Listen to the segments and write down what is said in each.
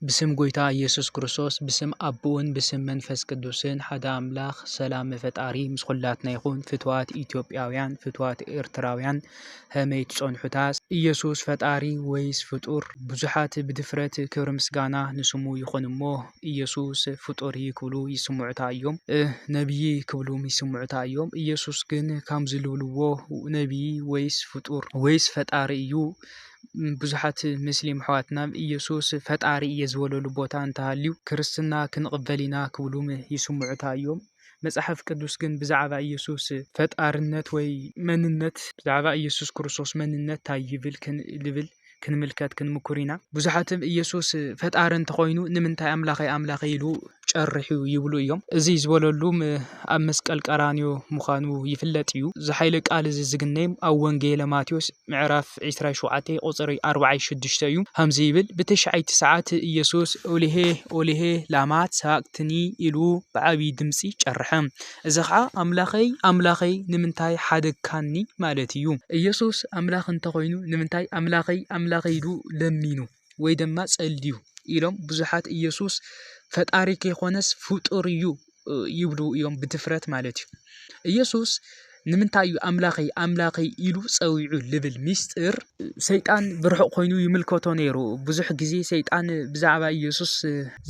ብስም ጎይታ ኢየሱስ ክርስቶስ ብስም ኣቦኡን ብስም መንፈስ ቅዱስን ሓደ ኣምላኽ ሰላም ፈጣሪ ምስ ኹላትና ይኹን ፍትዋት ኢትዮጵያውያን ፍትዋት ኤርትራውያን ሀመይ ትጸንሑታ ኢየሱስ ፈጣሪ ወይስ ፍጡር ብዙሓት ብድፍረት ክብሪ ምስጋና ንስሙ ይኹን እሞ ኢየሱስ ፍጡርይ ክብሉ ይስምዑታ እዮም ነብይ ክብሉም ይስምዑታ እዮም ኢየሱስ ግን ካምዚ ልብልዎ ነብይ ወይስ ፍጡር ወይስ ፈጣሪ እዩ ብዙሓት ምስሊም ኣሕዋትና ኢየሱስ ፈጣሪ እየ ዝበለሉ ቦታ እንተሃልዩ ክርስትና ክንቕበል ኢና ክብሉ ይስምዑታ እዮም። መጽሓፍ ቅዱስ ግን ብዛዕባ ኢየሱስ ፈጣርነት ወይ መንነት ብዛዕባ ኢየሱስ ክርስቶስ መንነት እንታይ ይብል ክንብል ክንምልከት ክንምኩር ኢና። ብዙሓትም ኢየሱስ ፈጣሪ እንተኾይኑ ንምንታይ ኣምላኸይ ኣምላኸይ ኢሉ ጨሪሑ ይብሉ እዮም። እዚ ዝበለሉም ኣብ መስቀል ቀራንዮ ምዃኑ ይፍለጥ እዩ። እዚ ሓይለ ቃል እዚ ዝግነይም ኣብ ወንጌለ ማቴዎስ ምዕራፍ ዕስራይ ሸውዓተይ ቁጽሪ ኣርባዓይ ሽዱሽተ እዩ። ከምዚ ይብል ብተሽዓይቲ ሰዓት ኢየሱስ ኦሊሄ ኦሊሄ ላማ ሰባቅትኒ ኢሉ ብዓቢይ ድምጺ ጨርሐ። እዚ ከኣ ኣምላኸይ ኣምላኸይ ንምንታይ ሓደግካኒ ማለት እዩ። ኢየሱስ ኣምላኽ እንተ ኾይኑ ንምንታይ ኣምላኸይ ኣምላኸይ ኢሉ ለሚኑ? ወይ ድማ ጸልዩ ኢሎም ብዙሓት ኢየሱስ ፈጣሪ ከይኮነስ ፍጡር እዩ ይብሉ እዮም ብድፍረት ማለት እዩ ኢየሱስ ንምንታይ እዩ ኣምላኸይ ኣምላኸይ ኢሉ ጸዊዑ ልብል ሚስጥር ሰይጣን ብርሑቕ ኮይኑ ይምልከቶ ነይሩ ብዙሕ ግዜ ሰይጣን ብዛዕባ ኢየሱስ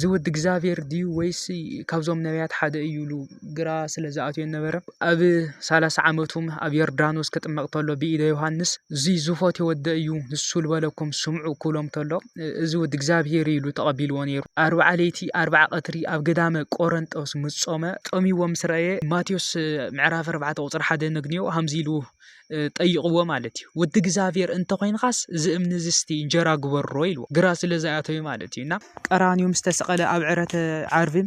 ዝውድ እግዚኣብሔር ድዩ ወይስ ካብዞም ነቢያት ሓደ እዩ ኢሉ ግራ ስለ ዝኣትወኒ ነበረ። ኣብ ሰላሳ ዓመቱ ኣብ ዮርዳኖስ ክጥመቕ ተሎ ብኢደ ዮሃንስ እዚ ዝፈትዮ ወደ እዩ ንሱ ዝበለኩም ስምዑ ክብሎም ተሎ እዚ ወዲ እግዚኣብሄር ኢሉ ተቐቢልዎ ነይሩ። ኣርብዓ ለይቲ ኣርብዓ ቀትሪ ኣብ ገዳመ ቆረንጦስ ምስ ጾመ ጸሚዎ ምስ ረኣየ ማቴዎስ ምዕራፍ ኣርባዕተ ቁጽሪ ሓደ ነግንዮ ሃምዚ ኢሉ ጠይቕዎ ማለት እዩ ወዲ እግዚኣብሔር እንተኾይንኻስ እዚ እምኒ እዚ እስቲ እንጀራ ግበሮ ኢልዎ ግራ ስለ ዝኣተወ ማለት እዩ እና ቀራንዮ ምስ ተሰቐለ ኣብ ዕረተ ዓርቢ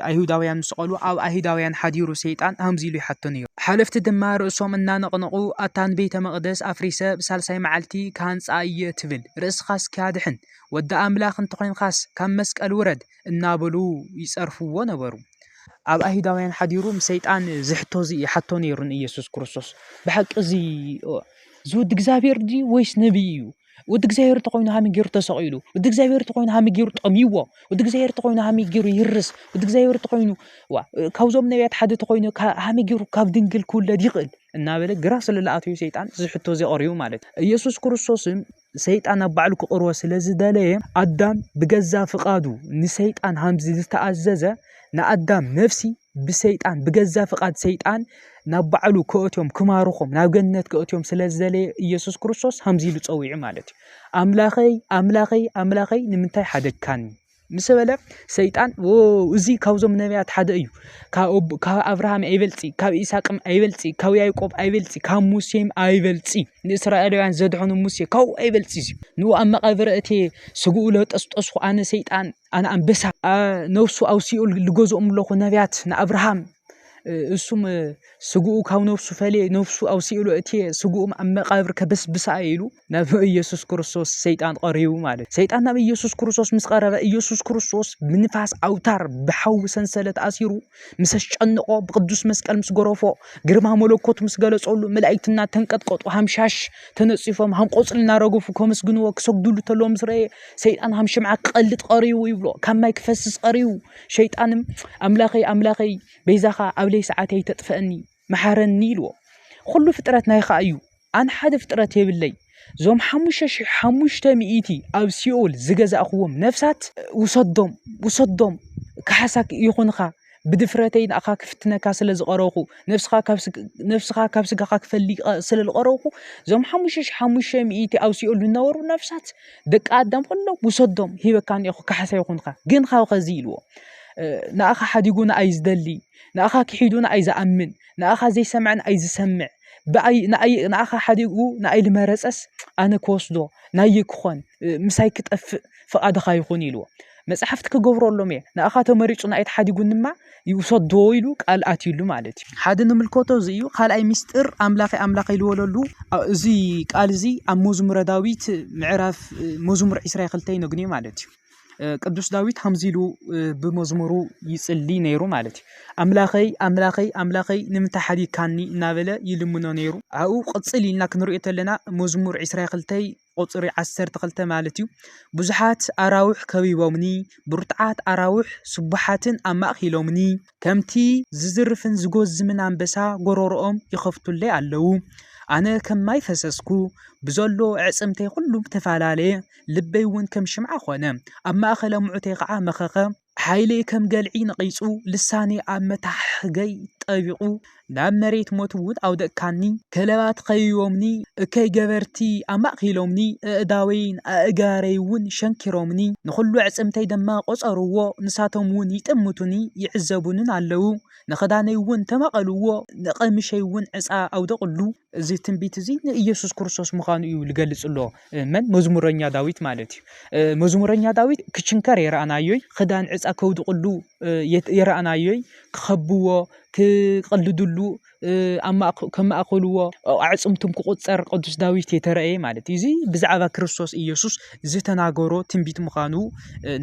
ኣይሁዳውያን ምስ ቐሉ ኣብ ኣይሁዳውያን ሓዲሩ ሰይጣን ሃምዚ ኢሉ ይሓቶ ነይሩ ሓለፍቲ ድማ ርእሶም እናነቕነቑ ኣታ ንቤተ መቕደስ ኣፍሪሰ ብሳልሳይ መዓልቲ ክሃንጻ እየ ትብል ርእስኻስ እስኪ ኣድሕን ወዲ ኣምላኽ እንተኾይንካስ ካብ መስቀል ውረድ እናበሉ ይጸርፍዎ ነበሩ። ኣብ ኣይሁዳውያን ሓዲሩ ምስ ሰይጣን ዝሕቶ እዚ ይሓቶ ነይሩ ንኢየሱስ ክርስቶስ ብሓቂ እዚ እዚ ወዲ እግዚኣብሔር ድዩ ወይስ ነቢይ እዩ? ወዲ እግዚኣብሔር እንተኾይኑ ሃመይ ገይሩ ተሰቒሉ? ወዲ እግዚኣብሔር እንተኾይኑ ሃመይ ገይሩ ጠምይዎ? ወዲ እግዚኣብሔር እንተኾይኑ ሃመይ ገይሩ ይህርስ? ወዲ እግዚኣብሔር እንተኾይኑ ካብዞም ነቢያት ሓደ እንተኾይኑ ሃመይ ገይሩ ካብ ድንግል ክውለድ ይኽእል? እናበለ ግራ ስለ ዝኣተዩ ሰይጣን እዚ ሕቶ እዚ ኣቕሪቡ ማለት እዩ። ኢየሱስ ክርስቶስን ሰይጣን ኣብ ባዕሉ ክቕርቦ ስለ ዝደለየ ኣዳም ብገዛ ፍቓዱ ንሰይጣን ሃምዚ ዝተኣዘዘ ንኣዳም ነፍሲ ብሰይጣን ብገዛ ፍቓድ ሰይጣን ናብ ባዕሉ ክእትዮም ክማርኾም ናብ ገነት ክእትዮም ስለ ዝደለየ ኢየሱስ ክርስቶስ ሃምዚ ኢሉ ፀዊዑ ማለት እዩ ኣምላኸይ ኣምላኸይ ኣምላኸይ ንምንታይ ሓደግካኒ ምስ በለ ሰይጣን እዚ ካብዞም ነቢያት ሓደ እዩ ካብ ኣብርሃም ኣይበልፂ ካብ ኢሳቅ ኣይበልፂ ካብ ያዕቆብ ኣይበልፂ ካብ ሙሴ ኣይበልፂ ንእስራኤላውያን ዘድሐኑ ሙሴ ካብኡ ኣይበልፂ እዩ ንኡ ኣብ መቃብር እትየ ስግኡ ለጠስጠስኩ ኣነ ሰይጣን ኣነ ኣንበሳ ነብሱ ኣብ ሲኦል ልገዝኦም ኣለኹ ነቢያት ንኣብርሃም እሱም ስግኡ ካብ ነብሱ ፈልየ ነብሱ ኣብ ሲኦል እትየ ስግኡ ኣብ መቃብር ከበስብሳ እየ ኢሉ ናብ ኢየሱስ ክርስቶስ ሰይጣን ቐሪቡ ማለት እዩ። ሰይጣን ናብ ኢየሱስ ክርስቶስ ምስ ቐረበ ኢየሱስ ክርስቶስ ብንፋስ ኣውታር ብሓዊ ሰንሰለት ኣሲሩ ምስ ኣስጨንቖ ብቅዱስ መስቀል ምስ ገረፎ ግርማ መለኮት ምስ ገለጸሉ መላእክትና ተንቀጥቀጡ ሃምሻሽ ተነጺፎም ሃንቆጽሊ እናረገፉ ከመስግንዎ ክሰግድሉ ተለዎ ምስ ረየ ሰይጣን ሃም ሽምዓ ክቐልጥ ቐሪቡ ይብሎ ካብ ማይ ክፈስስ ቐሪቡ ሸይጣንም ኣምላኸይ ኣምላኸይ በይዛኻ ኣብ ለይ ሰዓት ኣይተጥፈአኒ መሓረኒ ኢልዎ ኹሉ ፍጥረት ናይኻ እዩ ኣን ሓደ ፍጥረት የብለይ ዞም ሓሙሽተ ሽሕ ሓሙሽተ ሚእቲ ኣብ ሲኦል ዝገዛእኽዎም ነፍሳት ውሰዶም ውሰዶም ካሓሳ ይኹንኻ ብድፍረተይ ንኣኻ ክፍትነካ ስለ ዝቐረኹ ነፍስኻ ካብ ስጋኻ ክፈልቀ ስለ ዝቐረኹ እዞም ሓሙሽተ ሽሕ ሓሙሽተ ሚእቲ ኣብ ሲኦል ዝነበሩ ነፍሳት ደቂ ኣዳም ኩሎም ውሰዶም ሂበካ እኒኦኹ ካሓሳ ይኹንኻ ግን ካብ ኸዚ ኢልዎ ንኣኻ ሓዲጉ ንኣይ ዝደሊ ንኣኻ ክሒዱ ንኣይ ዝኣምን ንኣኻ ዘይሰምዐ ንኣይ ዝሰምዕ ብኣይ ንኣይ ንኣኻ ሓዲጉ ንኣይ ዝመረጸስ ኣነ ክወስዶ ናይይ ክኾን ምሳይ ክጠፍእ ፍቓድኻ ይኹን ኢልዎ መጽሓፍቲ ክገብረሎም እየ ንኣኻ ተመሪጹ ንኣይ ተሓዲጉን ድማ ይውሰዶ ኢሉ ቃል ኣትዩሉ ማለት እዩ ሓደ ንምልከቶ እዚ እዩ ካልኣይ ምስጢር ኣምላኸ ኣምላኸ ኢልወለሉ እዚ ቃል እዚ ኣብ መዝሙረ ዳዊት ምዕራፍ መዝሙር 22 ይነግኒ ማለት እዩ ቅዱስ ዳዊት ከምዚ ኢሉ ብመዝሙሩ ይጽሊ ነይሩ ማለት እዩ ኣምላኸይ ኣምላኸይ ኣምላኸይ ንምንታይ ሓዲግካኒ እናበለ ይልምኖ ነይሩ ኣብኡ ቅፅል ኢልና ክንሪኦ ተለና መዝሙር 22 ቁፅሪ 12 ማለት እዩ ብዙሓት ኣራውሕ ከቢቦምኒ ብርቱዓት ኣራውሕ ስቡሓትን ኣማእኪሎምኒ ከምቲ ዝዝርፍን ዝጎዝምን ኣንበሳ ጎረሮኦም ይኸፍቱለይ ኣለዉ ኣነ ከም ማይ ፈሰስኩ ብዘሎ ዕፅምተይ ኩሉ ተፈላለየ ልበይውን ከም ሽምዓ ዀነ፣ ኣብ ማእከል ኣምዑተይ ኸኣ መኸኸ። ሓይለይ ከም ገልዒ ነቒጹ፣ ልሳነይ ኣብ መታሕሕገይ ጠቢቑ፣ ናብ መሬት ሞትውን ኣውደቕካኒ። ከለባት ኸቢቦምኒ፣ እከይ ገበርቲ ኣማእኪሎምኒ፣ ኣእዳወይን ኣእጋረይውን ሸንኪሮምኒ፣ ንዅሉ ኣዕጽምተይ ድማ ቈጸርዎ። ንሳቶምውን ይጥምቱኒ፣ ይዕዘቡንን ኣለዉ፣ ንኽዳነይውን ተማቐልዎ፣ ንቐሚሸይውን ዕጻ ኣውደቑሉ። እዚ ትንቢት እዚ ንኢየሱስ ክርስቶስ ምዃኑ እዩ ልገልጽ እሎ። መን መዝሙረኛ ዳዊት ማለት እዩ መዝሙረኛ ዳዊት ክችንከር የረኣናዮይ ክዳን ዕፃ ከውድቕሉ የረኣናዮይ ክኸብዎ ክቕልድሉ ከማእኸልዎ ኣዕፅምቱም ክቁፀር ቅዱስ ዳዊት የተረእየ ማለት እዩ እዚ ብዛዕባ ክርስቶስ ኢየሱስ ዝተናገሮ ትንቢት ምዃኑ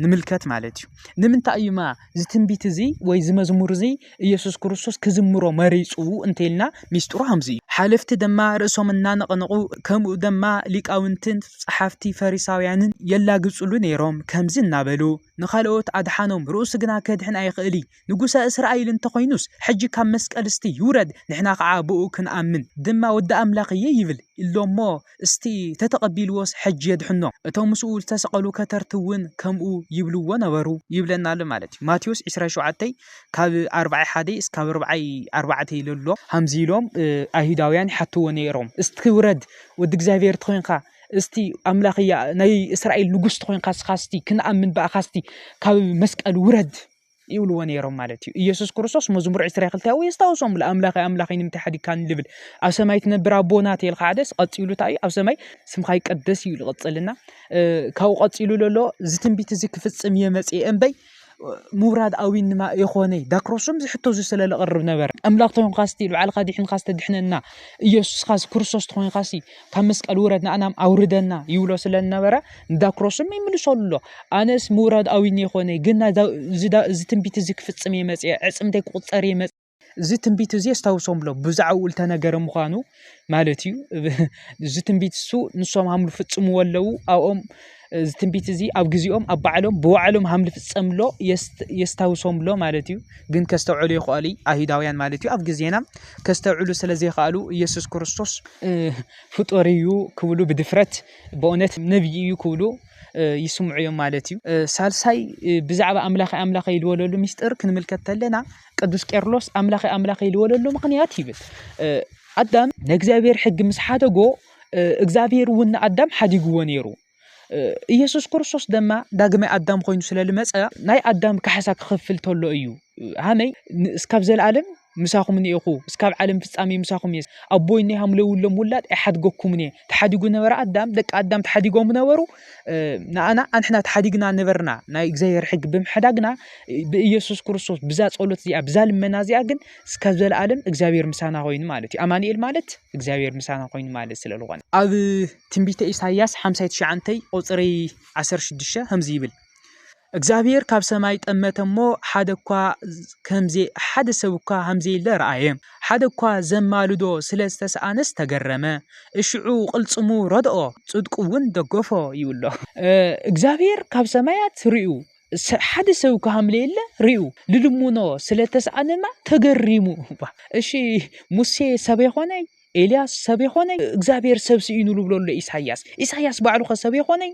ንምልከት ማለት እዩ ንምንታይ እዩማ እዚ ትንቢት እዚ ወይ እዚ መዝሙር እዚ ኢየሱስ ክርስቶስ ክዝምሮ መሪጹ እንተልና ሚስጥሩ ከምዚ እዩ። ሓለፍቲ ድማ ርእሶም እናነቐነቑ ከምኡ ድማ ሊቃውንትን ጸሓፍቲ ፈሪሳውያንን የላግጽሉ ነይሮም ከምዚ እናበሉ ንኻልኦት ኣድሓኖም ርእሱ ግና ከድሕን ኣይኽእል ንጉሰ እስራኤል እንተኾይኑስ ሕጂ ካብ መስቀል እስቲ ይውረድ ንሕና ከዓ ብኡ ክንኣምን ድማ ወዲ ኣምላኽ እየ ይብል ኢሎሞ እስቲ ተተቐቢልዎስ ሕጂ የድሕኖ፣ እቶም ምስኡ ዝተሰቐሉ ከተርቲ እውን ከምኡ ይብልዎ ነበሩ። ይብለና ኣሎ ማለት እዩ። ማቴዎስ ዕስራን ሸውዓተይ ካብ ኣርብዓይ ሓደይ እስካብ ኣርብዓይ ኣርባዕተይ ለሎ። ሃምዚ ኢሎም ኣይሁዳውያን ይሓትዎ ነይሮም፣ እስቲ ውረድ፣ ወዲ እግዚኣብሔር ተኾይንካ፣ እስቲ ኣምላኽ ናይ እስራኤል ንጉሥ ተኾይንካ እስኻ እስቲ ክንኣምን ብኣኻ እስቲ ካብ መስቀል ውረድ፣ ይብልዎ ነይሮም ማለት እዩ ኢየሱስ ክርስቶስ መዝሙር 22 ያው የስታውሶም ለኣምላኸ ኣምላኸ ንምንታይ ሓዲግካን ልብል ኣብ ሰማይ ትነብር ኣቦና ተልካ ሓደስ ቀፂሉ እንታይ እዩ ኣብ ሰማይ ስምካ ይቀደስ እዩ ዝቐፅልና ካብኡ ቀፂሉ ዘሎ እዚ ትንቢት እዚ ክፍፅም እየ መፅአ እምበይ ምውራድ ኣዊን ድማ የኾነ ዳክሮስም ዝሕቶ እዚ ስለ ዝቐርብ ነበረ ኣምላኽ ተኾንካ ስቲ ንባዕልካ ዲሕንካ ዝተድሕነና ኢየሱስካ ክርስቶስ ተኾንካ ሲ ካብ መስቀል ውረድ ንኣናም ኣውርደና ይብሎ ስለ ዝነበረ ንዳክሮስም ይምልሰሉ ኣሎ ኣነስ ምውራድ ኣዊኒ ይኮነ ግን እዚ ትንቢት እዚ ክፍፅም እየ መፅአ ዕፅምተይ ክቁፀር እየ መፅ እዚ ትንቢት እዚ የስታውሶም ኣሎ ብዛዕባኡ ዝተነገረ ምዃኑ ማለት እዩ እዚ ትንቢት እሱ ንሶም ሃምሉ ፍፅምዎ ኣለዉ ኣብኦም እዚ ትንቢት እዚ ኣብ ግዜኦም ኣብ ባዕሎም ብባዕሎም ሃም ልፍጸምሎ የስታውሶምሎ ማለት እዩ ግን ከስተውዕሉ ይኽኣሉ ኣይሁዳውያን ማለት እዩ ኣብ ግዜና ከስተውዕሉ ስለ ዘይኽኣሉ ኢየሱስ ክርስቶስ ፍጡር እዩ ክብሉ ብድፍረት ብእውነት ነብዪ እዩ ክብሉ ይስምዑ እዮም ማለት እዩ ሳልሳይ ብዛዕባ ኣምላኸ ኣምላኸ ይልወለሉ ሚስጥር ክንምልከት ተለና ቅዱስ ቄርሎስ ኣምላኸ ኣምላኸ ይልወለሉ ምኽንያት ይብል ኣዳም ንእግዚኣብሔር ሕጊ ምስ ሓደጎ እግዚኣብሄር እውን ንኣዳም ሓዲግዎ ነይሩ። ኢየሱስ ክርስቶስ ድማ ዳግማይ ኣዳም ኮይኑ ስለ ዝመፀ ናይ ኣዳም ካሕሳ ክኸፍል ተሎ እዩ ሃመይ እስካብ ዘለኣለም ምሳኹም እኒኤኹ እስካብ ዓለም ፍጻሜ ምሳኹም እየ ኣቦይ እኒ ሃምለውሎም ውላድ ኣይሓድገኩምን እየ ተሓዲጉ ነበረ ኣዳም ደቂ ኣዳም ተሓዲጎም ነበሩ ንኣና ኣንሕና ተሓዲግና ነበርና ናይ እግዚኣብሔር ሕጊ ብምሕዳግና ብኢየሱስ ክርስቶስ ብዛ ጸሎት እዚኣ ብዛ ልመና እዚኣ ግን እስካብ ዘላኣለም እግዚኣብሔር ምሳና ኾይኑ ማለት እዩ። ኣማኒኤል ማለት እግዚኣብሔር ምሳና ኾይኑ ማለት ስለ ዝኾነ ኣብ ትንቢተ ኢሳያስ ሓምሳይ ትሽዓንተይ ቁፅሪ ዓሰርተ ሽዱሽተ ከምዚ ይብል እግዚኣብሔር ካብ ሰማይ ጠመተ እሞ ሓደ እኳ ከምዘ ሓደ ሰብ እኳ ከምዘየለ ረኣየ ሓደ እኳ ዘማልዶ ስለ ዝተሰኣነስ ተገረመ እሽዑ ቅልፅሙ ረድኦ ጽድቁ እውን ደገፎ ይብሎ እ፣ እግዚኣብሔር ካብ ሰማያት ርእዩ ሓደ ሰብ እኳ ሃምለየለ ርኡ ልልሙኖ ስለ ተስኣነማ ተገሪሙ እባ እሺ ሙሴ ሰብ የኾነይ ኤልያስ ሰብ የኾነይ እግዚኣብሔር ሰብ ስኢኑ ልብሎ ኣሎ ኢሳያስ ኢሳያስ ባዕሉ ኸ ሰብ የኾነይ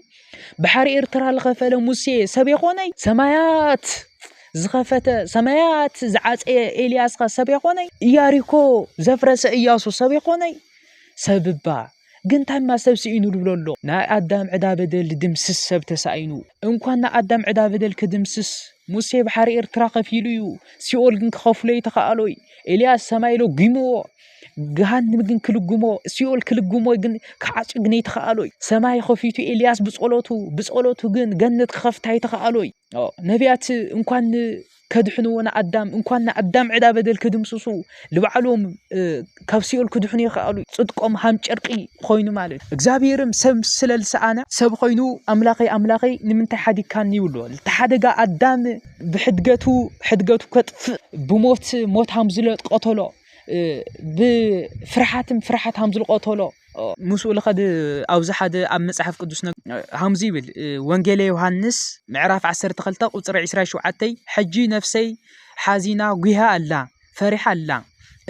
ባሕሪ ኤርትራ ዝኸፈለ ሙሴ ሰብ የኾነይ ሰማያት ዝኸፈተ ሰማያት ዝዓፀየ ኤልያስ ኸ ሰብ የኾነይ ኢያሪኮ ዘፍረሰ እያሱ ሰብ የኾነይ ሰብ እባ ግን ታማ ሰብ ስኢኑ ዝብሎ ኣሎ ናይ ኣዳም ዕዳ በደል ድድምስስ ሰብ ተሳኢኑ እንኳን ናይ ኣዳም ዕዳ በደል ክድምስስ ሙሴ ባሕሪ ኤርትራ ከፊሉ እዩ ሲኦል ግን ክኸፍሎ ይተኸኣሎይ ኤልያስ ሰማይ ለጒምዎ ገሃንም ግን ክልግሞ ሲኦል ክልግሞ ግን ክዓጹ ግን ይተኸኣሎይ ሰማይ ከፊቱ ኤልያስ ብጸሎቱ ብጸሎቱ ግን ገነት ክኸፍታ ይተኸኣሎይ ነቢያት እንኳን ከድሕንዎ ንኣዳም እንኳን ንኣዳም ዕዳ በደል ክድምስሱ ንባዕሎም ካብ ሲኦል ክድሕኑ ይኸኣሉ ፅድቆም ሃም ጨርቂ ኮይኑ ማለት እዩ እግዚኣብሔርም ሰብ ስለ ዝሰኣነ ሰብ ኮይኑ ኣምላኸይ ኣምላኸይ ንምንታይ ሓዲግካኒ ይብሎ እቲ ሓደጋ ኣዳም ብሕድገቱ ሕድገቱ ከጥፍእ ብሞት ሞት ሃም ዝለቀተሎ ብፍርሓትም ፍርሓት ሃም ዝልቀተሎ ምስኡ ልኸድ ኣብዚ ሓደ ኣብ መጽሓፍ ቅዱስ ሃምዚ ይብል ወንጌለ ዮሃንስ ምዕራፍ 12 ቁጽሪ 27 ሕጂ ነፍሰይ ሓዚና ጉሃ ኣላ ፈሪሓ ኣላ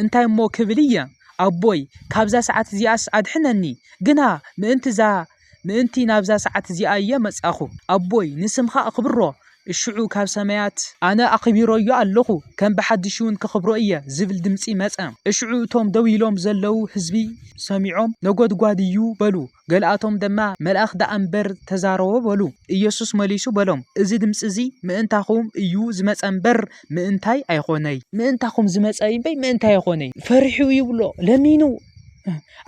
እንታይ እሞ ክብል እየ ኣቦይ ካብዛ ሰዓት እዚኣስ ኣድሕነኒ ግና ምእንቲ እዛ ምእንቲ ናብዛ ሰዓት እዚኣ እየ መጻኹ። ኣቦይ ንስምካ ኣኽብሮ እሽዑ ካብ ሰማያት። ኣነ ኣኺቢሮዮ ኣለኹ ከም ብሓድሽውን ከኽብሮ እየ ዝብል ድምጺ መጸ። እሽዑ እቶም ደው ኢሎም ዘለዉ ህዝቢ ሰሚዖም ነጎድጓድ እዩ በሉ። ገለኣቶም ደማ መልኣኽ ደኣ እምበር ተዛረቦ በሉ። ኢየሱስ መሊሱ በሎም እዚ ድምጺ እዚ ምእንታኹም እዩ ዝመጸ እምበር ምእንታይ ኣይኮነይ። ምእንታኹም ዝመጸ እምበይ ምእንታይ ኣይኮነይ። ፈሪሑ ይብሎ ለሚኑ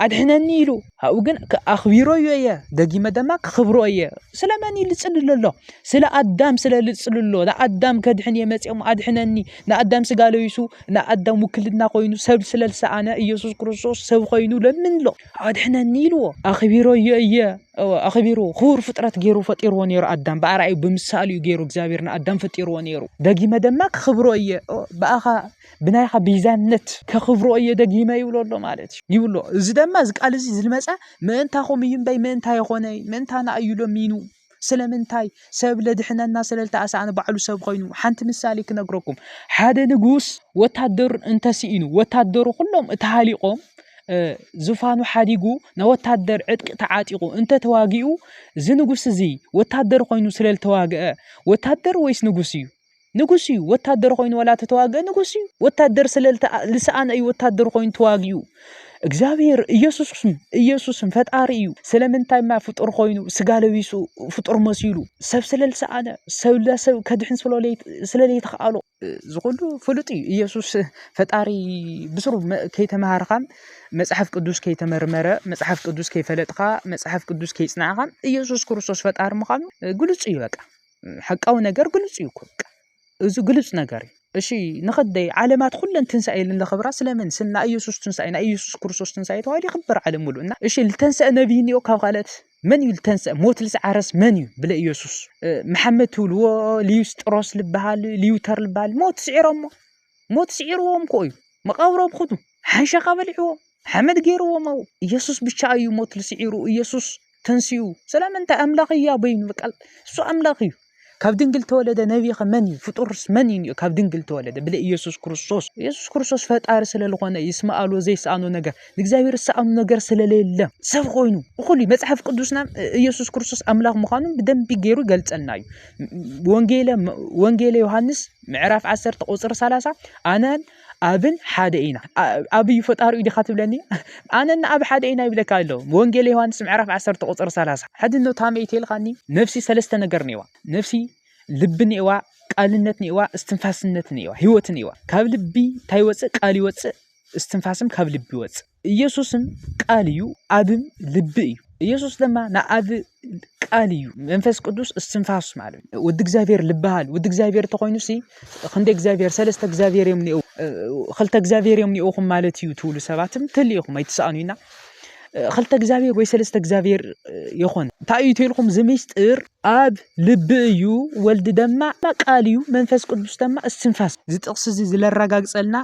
ኣድሕነኒ ኢሉ። ኣብኡ ግን ኣኽቢሮ እየ ደጊመ ደማ ክኽብሮ እየ ስለመን እዩ ልፅልሎ ኣሎ ስለ ኣዳም ስለ ልፅሉ ኣሎ ንኣዳም ከድሕን እየ መፅኦም ኣድሕነኒ ንኣዳም ስጋ ለቢሱ ንኣዳም ውክልና ኮይኑ ሰብ ስለ ዝሰኣነ ኢየሱስ ክርስቶስ ሰብ ኮይኑ ለምን ኣሎ ኣድሕነኒ ኢልዎ ኣኽቢሮ እየ እየ ኣኽቢሩ ክቡር ፍጥረት ገይሩ ፈጢርዎ ነይሩ ኣዳም ብኣርኣዩ ብምሳሉ እዩ ገይሩ እግዚኣብሔር ንኣዳም ፈጢርዎ ነይሩ ደጊመ ደማ ክኽብሮ እየ ብኣኻ ብናይኻ ቤዛነት ከኽብሮ እየ ደጊመ ይብሎ ኣሎ ማለት እዩ ይብሎ እዚ ድማ እዚ ቃል እዚ ዝመፀ ምእንታኹም እዩ እምበይ ምእንታይ ይኾነ ምእንታና እዩ ለሚኑ ስለምንታይ ሰብ ለድሕነና ስለልተኣሳእነ ባዕሉ ሰብ ኮይኑ ሓንቲ ምሳሌ ክነግረኩም ሓደ ንጉስ ወታደር እንተስኢኑ ወታደሩ ኩሎም እተሃሊቆም ዙፋኑ ሓዲጉ ናይ ወታደር ዕጥቂ ተዓጢቑ እንተተዋጊኡ እዚ ንጉስ እዚ ወታደር ኮይኑ ስለልተዋግአ ወታደር ወይስ ንጉስ እዩ ንጉስ እዩ ወታደር ኮይኑ ወላ ተተዋግአ ንጉስ እዩ ወታደር ስለ ልሰኣነ እዩ ወታደር ኮይኑ ተዋጊኡ እግዚኣብሔር ኢየሱስም ኢየሱስም ፈጣሪ እዩ ስለምንታይ ማ ፍጡር ኮይኑ ስጋ ለቢሱ ፍጡር መሲሉ ሰብ ስለ ልሰኣነ ሰብ ለሰብ ከድሕን ስለለይተኸኣሎ ዝኹሉ ፍሉጥ እዩ ኢየሱስ ፈጣሪ ብስሩ ከይተምሃርኻም መጽሓፍ ቅዱስ ከይተመርመረ መጽሓፍ ቅዱስ ከይፈለጥካ መጽሓፍ ቅዱስ ከይጽናዕኻም ኢየሱስ ክርስቶስ ፈጣሪ ምዃኑ ግልጹ እዩ በቃ ሓቃዊ ነገር ግሉጽ እዩ እኮ በቃ እዚ ግሉጽ ነገር እዩ እሺ ንኸደይ ዓለማት ኩለን ትንሳኤ ኢለን ዘኽብራ ስለምን ስለ ናይ ኢየሱስ ትንሳኤ ናይ ኢየሱስ ክርስቶስ ትንሳኤ ተባሂሉ ይኽበር ዓለም ሙሉ እና እሺ ዝተንሰአ ነቢይ እኒኦ ካብ ካልኦት መን እዩ ዝተንሰአ ሞት ልዝዓረስ መን እዩ ብለ ኢየሱስ መሓመድ ትብልዎ ሊዩስጥሮስ ልበሃል ሊዩተር ልበሃል ሞት ስዒሮሞ ሞት ስዒርዎም ኮ እዩ መቃብሮም ኹዱ ሓንሻኻ በሊዕዎ ሓመድ ገይርዎም ኣብኡ ኢየሱስ ብቻ እዩ ሞት ልስዒሩ ኢየሱስ ተንስኡ ስለምንታይ ኣምላኽ እያ በይኑ በቃ እሱ ኣምላኽ እዩ ካብ ድንግል ተወለደ ነቢኸ መን እዩ ፍጡርስ መን እዩ ካብ ድንግል ተወለደ ብለ ኢየሱስ ክርስቶስ ኢየሱስ ክርስቶስ ፈጣሪ ስለዝኾነ ይስማኣሉ ዘይሰኣኑ ነገር ንእግዚኣብሔር ዝሰኣኑ ነገር ስለሌለ ሰብ ኮይኑ እኹል እዩ መፅሓፍ ቅዱስና ኢየሱስ ክርስቶስ ኣምላኽ ምዃኑ ብደንቢ ገይሩ ይገልፀልና እዩ ወንጌለ ወንጌለ ዮሃንስ ምዕራፍ 10 ቁፅሪ 30 ኣነን ኣብን ሓደ ኢና ኣብ እዩ ፈጣሪኡ ዲኻ ትብለኒ ኣነና ኣብ ሓደ ኢና ይብለካ ኣሎ ወንጌል ዮሃንስ ምዕራፍ 10 ቁፅሪ 30 ሕድኖ ታመይ ተልካኒ ነፍሲ ሰለስተ ነገር ነዋ ነፍሲ ልቢ ነዋ ቃልነት ነዋ እስትንፋስነት ነዋ ህይወት ነዋ ካብ ልቢ እንታይ ይወፅእ ቃል ይወፅእ እስትንፋስም ካብ ልቢ ይወፅእ ኢየሱስን ቃል እዩ ኣብም ልቢ እዩ ኢየሱስ ድማ ንኣብ ቃል እዩ መንፈስ ቅዱስ እስትንፋስ ማለት እዩ ወዲ እግዚኣብሔር ልበሃል ወዲ እግዚኣብሔር ተኾይኑ ሲ ክንደ እግዚኣብሔር ሰለስተ እግዚኣብሔር እዮም ኒኡ ክልተ እግዚኣብሔር እዮም ኒኡኹም ማለት እዩ ትብሉ ሰባትም ትል ኢኹም ኣይትስኣኑ ኢና ክልተ እግዚኣብሔር ወይ ሰለስተ እግዚኣብሔር ይኾን እንታይ እዩ ትልኩም ዝምስጢር ኣብ ልቢ እዩ ወልዲ ደማ ቃል እዩ መንፈስ ቅዱስ ደማ እስትንፋስ ዝጥቕስ እዚ ዝለረጋግፀልና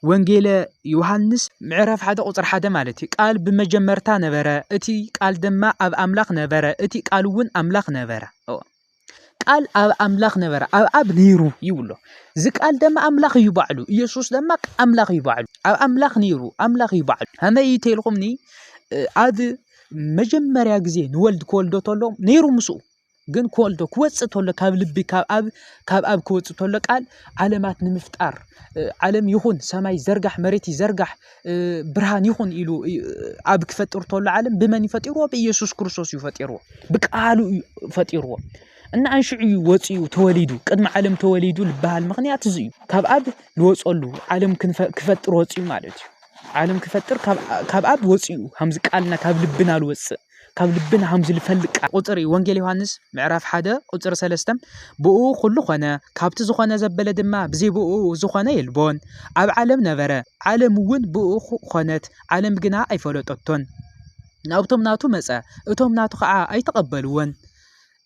ወንጌለ ዮሃንስ ምዕራፍ ሓደ ቁፅሪ ሓደ ማለት እዩ ቃል ብመጀመርታ ነበረ እቲ ቃል ድማ ኣብ ኣምላኽ ነበረ እቲ ቃል እውን ኣምላኽ ነበረ ቃል ኣብ ኣምላኽ ነበረ ኣብ ኣብ ነይሩ ይብሎ እዚ ቃል ድማ ኣምላኽ እዩ ባዕሉ ኢየሱስ ድማ ኣምላኽ እዩ ባዕሉ ኣብ ኣምላኽ ነይሩ ኣምላኽ እዩ ባዕሉ ከመይ እዩ ተልኹምኒ ኣብ መጀመርያ ግዜ ንወልድ ክወልዶ ተሎ ነይሩ ምስኡ ግን ኮልዶ ክወፅእ ተሎ ካብ ልቢ ካብ ኣብ ካብ ኣብ ክወፅእ ተሎ ቃል ዓለማት ንምፍጣር ዓለም ይኹን ሰማይ ዘርጋሕ መሬት ይዘርጋሕ ብርሃን ይኹን ኢሉ ኣብ ክፈጥር ተሎ ዓለም ብመን እዩ ፈጢርዎ ብኢየሱስ ክርስቶስ እዩ ፈጢርዎ ብቃሉ እዩ ፈጢርዎ እና ኣንሽዑ እዩ ወፂኡ ተወሊዱ ቅድሚ ዓለም ተወሊዱ ዝበሃል ምክንያት እዚ እዩ ካብ ኣብ ንወፀሉ ዓለም ክፈጥር ወፂኡ ማለት እዩ ዓለም ክፈጥር ካብ ኣብ ወፂኡ ከምዚ ቃልና ካብ ልብና ዝወፅእ ካብ ልብና ከም ዝፈልጥ ቃል ቁፅሪ ወንጌል ዮሃንስ ምዕራፍ ሓደ ቁፅሪ ሰለስተ ብኡ ኩሉ ኮነ ካብቲ ዝኾነ ዘበለ ድማ ብዘይ ብኡ ዝኾነ የልቦን ኣብ ዓለም ነበረ ዓለም እውን ብኡ ኮነት ዓለም ግና ኣይፈለጠቶን ናብቶም ናቱ መፀ እቶም ናቱ ከዓ ኣይተቐበልዎን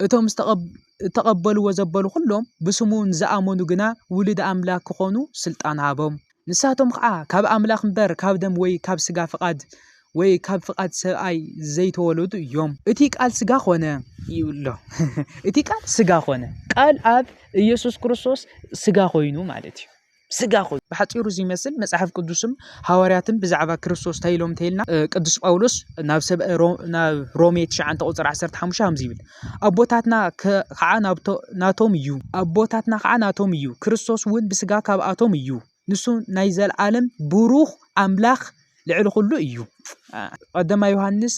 እቶም ዝተቐበልዎ ዘበሉ ኩሎም ብስሙ ንዝኣመኑ ግና ውሉድ ኣምላክ ክኾኑ ስልጣን ሃቦም ንሳቶም ኸኣ ካብ ኣምላኽ እምበር ካብ ደም ወይ ካብ ሥጋ ፍቓድ ወይ ካብ ፍቓድ ሰብኣይ ዘይተወለዱ እዮም። እቲ ቃል ሥጋ ኾነ ይብሎ እቲ ቃል ሥጋ ኾነ ቃል ኣብ ኢየሱስ ክርስቶስ ሥጋ ኮይኑ ማለት እዩ። ስጋ ኮይኑ ብሓፂሩ እዚ ይመስል መፅሓፍ ቅዱስም ሃዋርያትን ብዛዕባ ክርስቶስ እንታይ ኢሎም እንተይልና ቅዱስ ጳውሎስ ናብ ሰብ ናብ ሮሜ 9 ቁፅሪ 15 ከምዚ ይብል ኣቦታትና ኸዓ ናቶም እዩ። ኣቦታትና ኸዓ ናቶም እዩ። ክርስቶስ እውን ብስጋ ካብኣቶም እዩ። ንሱ ናይ ዘለዓለም ብሩኽ ኣምላኽ ልዕሊ ኩሉ እዩ። ቀዳማይ ዮሃንስ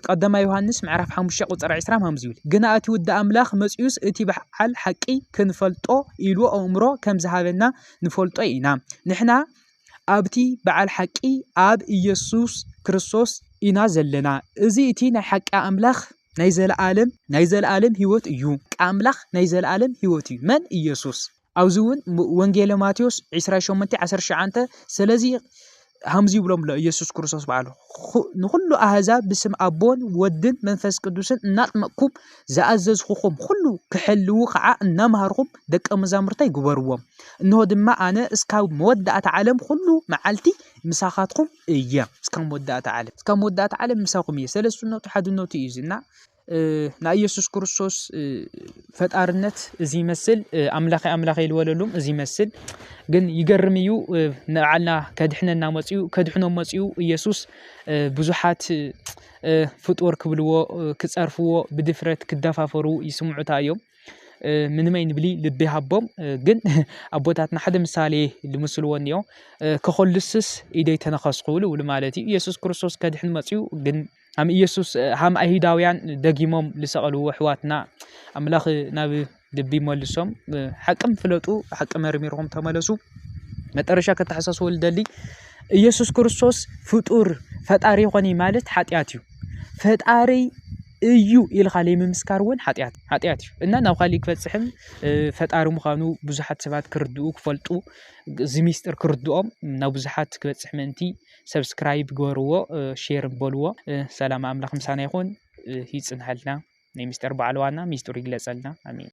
ቀዳማይ ዮሃንስ ምዕራፍ 5 ቁፅሪ 20 ሃምዚ ይብል ግና እቲ ውዲ ኣምላኽ መፂኡስ እቲ በዓል ሓቂ ክንፈልጦ ኢሉ ኣእምሮ ከም ዝሃበና ንፈልጦ ኢና ንሕና ኣብቲ በዓል ሓቂ ኣብ ኢየሱስ ክርስቶስ ኢና ዘለና እዚ እቲ ናይ ሓቂ ኣምላኽ ናይ ዘለኣለም ናይ ዘለኣለም ህይወት እዩ። ቃል ኣምላኽ ናይ ዘለኣለም ህይወት እዩ። መን? ኢየሱስ። ኣብዚ እውን ወንጌለ ማቴዎስ 28 19 ስለዚ ሃምዚ ይብሎም ኣሎ ኢየሱስ ክርስቶስ በዓሉ ንኹሉ ኣህዛብ ብስም ኣቦን ወድን መንፈስ ቅዱስን እናጥመቅኩም ዝኣዘዝኹኹም ኩሉ ክሕልዉ ከዓ እናምሃርኹም ደቀ መዛሙርታይ ግበርዎም እንሆ ድማ ኣነ እስካብ መወዳእታ ዓለም ኩሉ መዓልቲ ምሳኻትኩም እየ እስካብ መወዳእታ ዓለም እስካብ መወዳእታ ዓለም ምሳኹም እየ ሰለስትነቱ ሓድነቱ እዩ እና ናይ ኢየሱስ ክርስቶስ ፈጣርነት እዚ ይመስል ኣምላኸ ኣምላኸ ይልወለሉም እዚ ይመስል ግን ይገርም እዩ ንዓልና ከድሕነና መፅኡ ከድሕኖም መፅኡ ኢየሱስ ብዙሓት ፍጡር ክብልዎ ክፀርፍዎ ብድፍረት ክደፋፈሩ ይስምዑታ እዮም ምንመይ ንብሊ ልቢ ሃቦም ግን ኣቦታትና ሓደ ምሳሌ ልምስልዎ እኒኦ ከኸልስስ ኢደይ ተነኸስኩ ልብሉ ማለት እዩ ኢየሱስ ክርስቶስ ከድሕን መፅኡ ግን ሃም ኢየሱስ ሃም ኣይሁዳውያን ደጊሞም ልሰቐልዎ ኣሕዋትና ኣምላኽ ናብ ልቢ መልሶም ሓቅም ፍለጡ ሓቂ መርሚርኩም ተመለሱ መጠረሻ ከተሓሳስበሉ ደሊ ኢየሱስ ክርስቶስ ፍጡር ፈጣሪ ይኾኒ ማለት ሓጢኣት እዩ ፈጣሪይ እዩ ኢልኻ ለይምምስካር እውን ሓጢኣት ሓጢኣት እዩ እና ናብ ኻሊእ ክበፅሕን ፈጣሪ ምዃኑ ብዙሓት ሰባት ክርድኡ ክፈልጡ እዚ ሚስጥር ክርድኦም ናብ ብዙሓት ክበፅሕ ምእንቲ ሰብስክራይብ ግበርዎ ሼር በልዎ ሰላም ኣምላኽ ምሳና ይኹን ይፅንሐልና ናይ ሚስጥር በዓል ዋና ሚስጥሩ ይግለፀልና ኣሜን።